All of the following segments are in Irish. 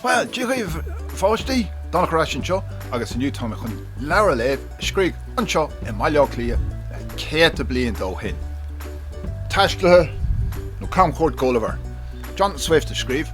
Bhuel, Dia dhaoibh a pháistí, Donncha ar ais anseo agus inniu tá mé chun leabhar a léamh a scríodh anseo i mBaile Átha Cliath na céadta bliain ó shin. Taistealaithe nó camchuairt Gulliver, Jonathan Swift a scríobh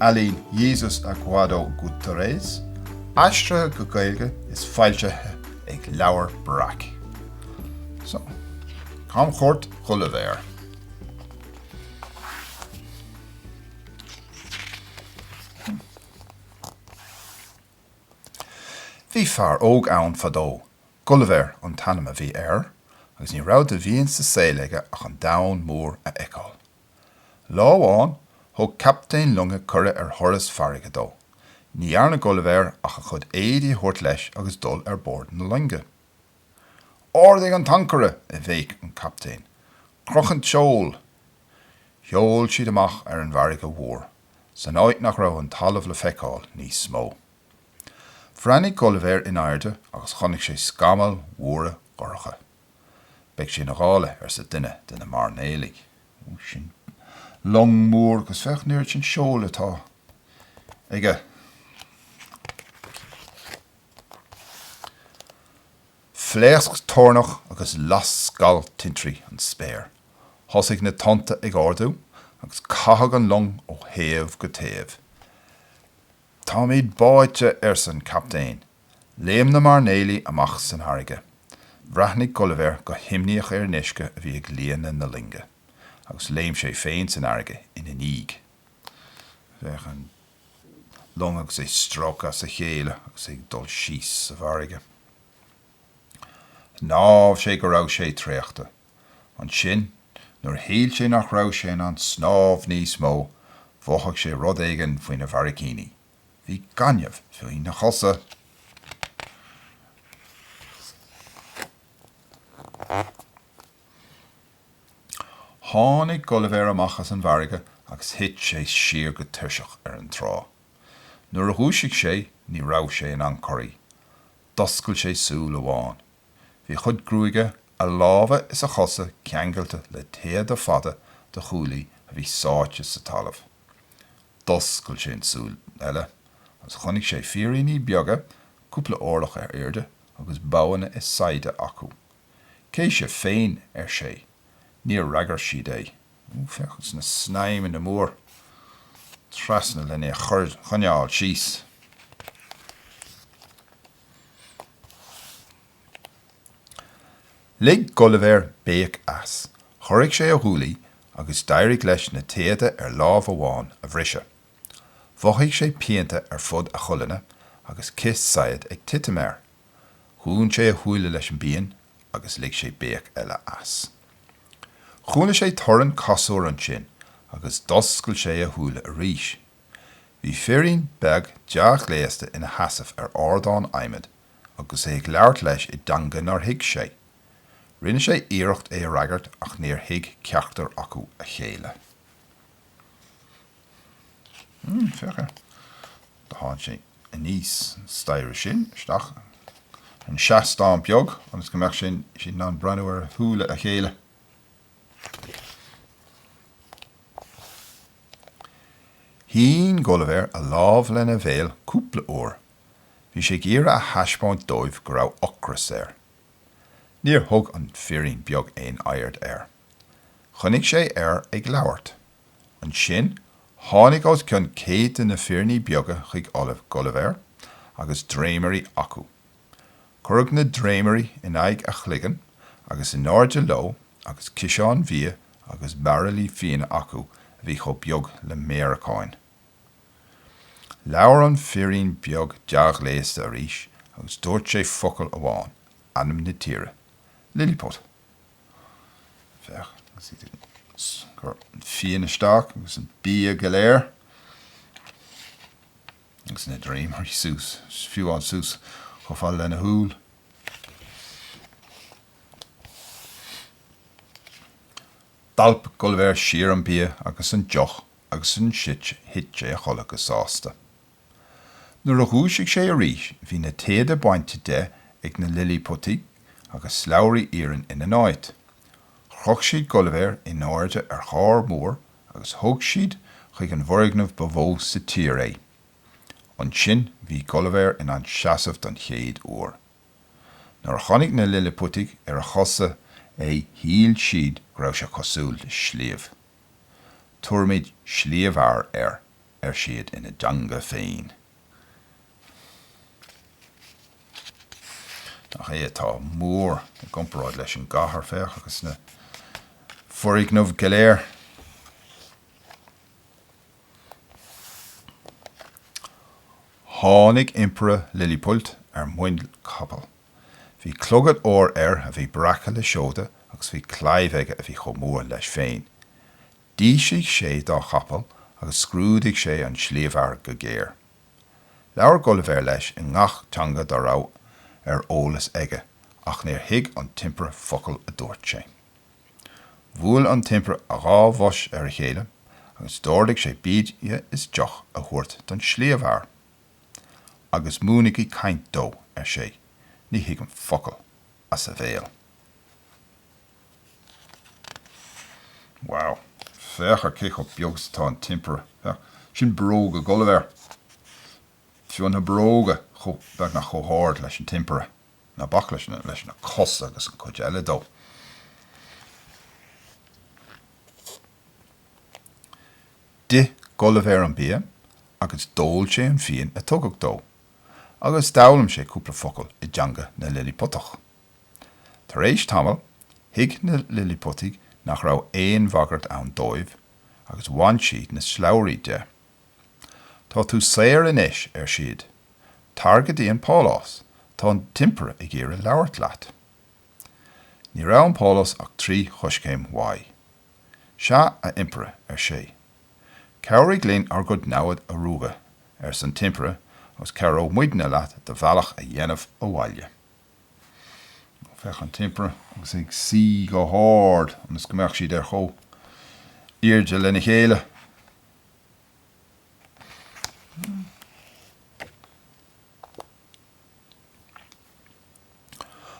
ealaín Jesus Aguado Gutierrez, aistrithe go Gaeilge is foilsithe ag Leabhar Breac. So, camchuairt Ghulliver. Bhí fear óg ann fadó. Gulliver an t-ainm a bhí air, agus ní raibh de mhian sa saol aige ach an domhan mór a fheiceáil. Lá amháin thug captaen loinge cuireadh ar thuras farraige dó. Ní dhearna Gulliver ach a chuid éadaí a thabhairt leis agus dul ar bord na loinge. Ardaigh an t-ancaire! a bhéic an captaen. Croch an seol! Sheol siad amach ar an bhfarraige mhór, san áit nach raibh an talamh le feiceáil níos mó. Bhreathnaigh Gulliver in airde agus chonaic sé scamaill mhóra dhorcha. Beidh sé ina ghála, arsa duine de na mairnéalaigh. Sin long mór, agus féach an oiread sin seol atá aige. Phléasc toirneach agus las scal tintrí an spéir. Thosaigh na tonnta ag ardú agus caitheadh an long ó thaobh go taobh. Táimid báite, arsa an captaen. Léim na mairnéalaigh amach san fharraige. Bhreathnaigh Gulliver go himníoch ar an uisce a bhí ag líonadh na loinge, agus léim sé féin san fharraige ina ndiaidh. Féach an long agus é stróicthe as a chéile agus é ag dul síos sa bhfarraige. Shnámh sé go raibh sé traochta. Ansin, nuair a shíl sé nach raibh sé in ann snámh níos mó, mhothaigh sé rud éigin faoina bharraicíní. Bhí gaineamh faoina chosa. Tháinig Gulliver amach as an bhfarraige agus thit sé siar go tuirseach ar an trá. Nuair a dhúisigh sé ní raibh sé in ann corraí. D'oscail sé súil amháin. Bhí a chuid gruaige, a lámha is a chosa ceangailte le téada fada do chuaillí a bhí sáite sa talamh. D'oscail sé an tsúil eile agus chonaic sé fíríní beaga, cúpla orlach ar airde agus boghanna is saighde acu. Cé sibh féin? ar sé. Níor fhreagair siad é. Ó, féach, na snaidhmeanna mór trasna lena choinneáil síos. Lig Gulliver béic as, chorraigh sé a ghuaillí agus d'éirigh leis na téada ar lámh amháin a bhriseadh. Mhothaigh sé pianta ar fud a cholainne agus cith saighead ag titim air. Dhún sé a shúile leis an bpian agus lig sé béic eile as. Chuala sé torann casúir ansin agus d'oscail sé a shúile arís. Bhí firín beag dea-ghléasta ina sheasamh ar ardán adhmaid agus é ag labhairt leis i dteanga nár thuig sé. Rinne sé iarracht é a fhreagairt ach níor thuig ceachtar acu a chéile. Mmm, féach air. Do tháinig sé aníos an staighre sin isteach ar an seastán beag ionas go mbeadh siad in ann breathnú ar shúile a chéile. Shín Gulliver a lámh lena bhéal cúpla uair Bhí sé ag iarraidh a thaispeáint dóibh go raibh ocras air. Níor thug an firín beag aon aird air. Choinnigh sé air ag labhairt. Ansin tháinig os cionn céad de na firíní beaga chuig colainn Gulliver agus dréimirí acu. Cuireadh na dréimirí in aghaidh a chloigeann agus in airde leo agus ciseáin bhia agus bairillí fíona acu a bhí chomh beag le méaracáin. Labhair an firín beag dea-ghléasta arís agus dúirt sé focal amháin, ainm na tíre, Lilliput. Féach, agus iad ag cur an fíon isteach agus an bia go léir, agus na dréimirí suas, fiú amháin suas chomh fada lena shúil. D'alp Gulliver siar an bia agus an deoch agus ansin thit sé a chodladh go sásta. Nuair a dhúisigh sé arís bhí na téada bainte de ag na Lillipútaigh agus slabhraí iarainn ina n-áit. Chroch siad Gulliver in airde ar charr mór agus thug siad chuig an bhfoirgneamh ba mhó sa tír é. Ansin bhí Gulliver in ann seasamh don chéad uair. Nuair a chonaic na Lillipútaigh ar a chosa é shíl siad go raibh sé cosúil le sliabh. Tabharfaimid Sliabhfhear air, ar siad ina dteanga féin. Nach é atá mór i gcomparáid leis an gcathair, féach, agus na foirgnimh go léir. Tháinig Impire Lilliput ar muin capall. Bhí clogad óir air a bhí breactha le seoda agus bhí claíomh aige a bhí chomh mór leis féin. D'ísligh sé dá chapall agus scrúdaigh sé an Sliabhfhear go géar. Labhair Gulliver leis i ngach teanga dá raibh ar eolas aige ach níor thuig an tImpire focal a dúirt sé. Bhuail an tImpire a dhá bhos ar a chéile agus d'ordaigh sé bia is deoch a thabhairt don Sliabhfhear. agus múinigí caint dó, ar sé, ní thuigim focal as a bhéal. Wow! Féach air cé chomh beag is atá an tImpire. Féach, sin bróga Gulliver. Fiú na bróga chomh, beagnach chomh hard leis an tImpire. Ná bac leis na, leis na cosa agus an chuid eile de. D'ith Gulliver an bia agus d'ól sé an fíon a tugadh dó, agus d'fhoghlaim sé cúpla focal i dteanga na Lilliputach. Tar éis tamaill, thuig na Lilliputigh nach raibh aon bhagairt ann dóibh, agus bhain siad na slabhraí de. Tá tú saor anois, ar siad. Tar go dtí an pálás, tá an tImpire ag iarraidh labhairt leat. Ní raibh an pálás ach trí choiscéim uaidh. 'Sea, a Impire, ar sé. 'Cabhraigh linn ár gcuid naimhde a ruaigeadh, arsa an tImpire, 'agus cabhróidh muidne leat do bhealach a dhéanamh abhaile. Ó, féach an tImpire agus é ag suí go hard ionas go mbeadh siad ar chomhairde lena chéile.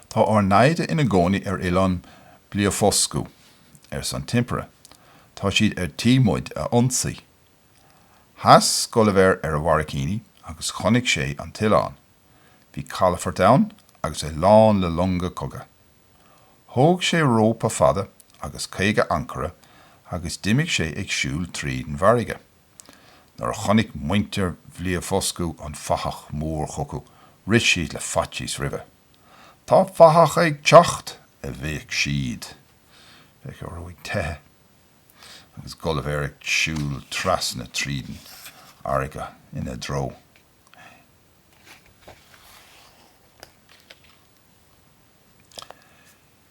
Tá ár naimhde ina gcónaí ar oileán Bliofuscú, arsa an tImpire. Tá siad ar tí muid a ionsaí. Sheas Gulliver ar a bharraicíní agus chonaic sé an t-oileán. Bhí calafort ann agus é lán le longa cogaidh. Thóg sé rópa fada agus caoga ancaire agus d'imigh sé ag siúl tríd an bhfarraige. Nuair a chonaic muintir Bhliofuscú an fathach mór chucu, rith siad le faitíos roimhe. Tá fathach ag teacht! a bhéic siad. Féach orthu ag teitheadh, agus Gulliver ag siúl trasna tríd an fharraige ina dtreo.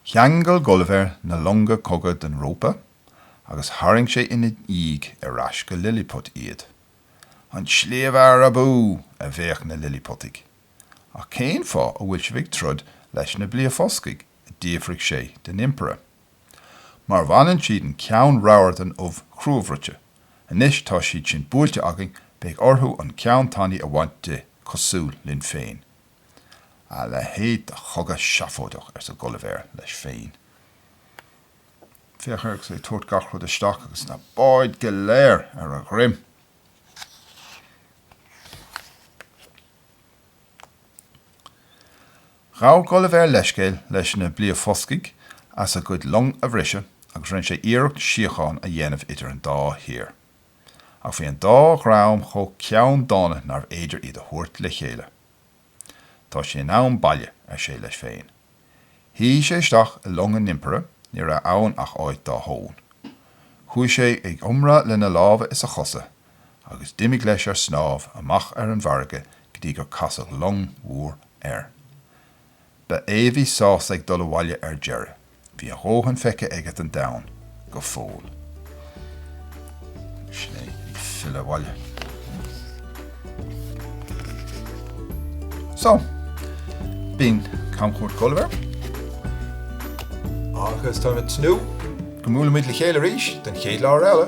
Cheangail Gulliver na longa cogaidh den rópa agus tharraing sé ina dhiaidh ar ais go Lilliput iad. An Sliabhfhear abú! a bhéic na Lilliputaigh. Ach cén fáth a bhfuil sibh ag troid leis na Bliafoscaigh? a d'fhiafraigh sé den Impire. Mar bhaineann siad an ceann ramhar den ubh chruabhruite. Anois tá siad sin buailte againn, beidh orthu an ceann tanaí a bhaint di, cosúil linn féin. A leithéid de chogadh seafóideach, arsa Gulliver leis féin. Féach air agus é ag tabhairt gach rud isteach agus na báid go léir ar a dhroim! Ghabh Gulliver leithscéal leis na Bliafoscaigh as a gcuid long a bhriseadh agus rinne sé iarracht síocháin a dhéanamh idir an dá thír. Ach bhí an dá dhream chomh ceanndána nárbh fhéidir iad a thabhairt le chéile. Tá sé in am baile, ar sé leis féin. Shuigh sé isteach i long an Impire, ní raibh ann ach áit dá thóin. Chuaigh sé ag iomrá lena lámha is a chosa, agus d'imigh leis ar snámh amach ar an bhfarraige go dtí gur casadh long mhór air. Ba é a bhí sásta ag dul abhaile ar deireadh. Bhí a dhóthain feicthe aige den domhan go fóill. Sin é, ag filleadh abhaile. So, b'in camchuairt Ghulliver. Agus tá mé ag tnúth go mbuailfimid le chéile arís don chéad leabhar eile.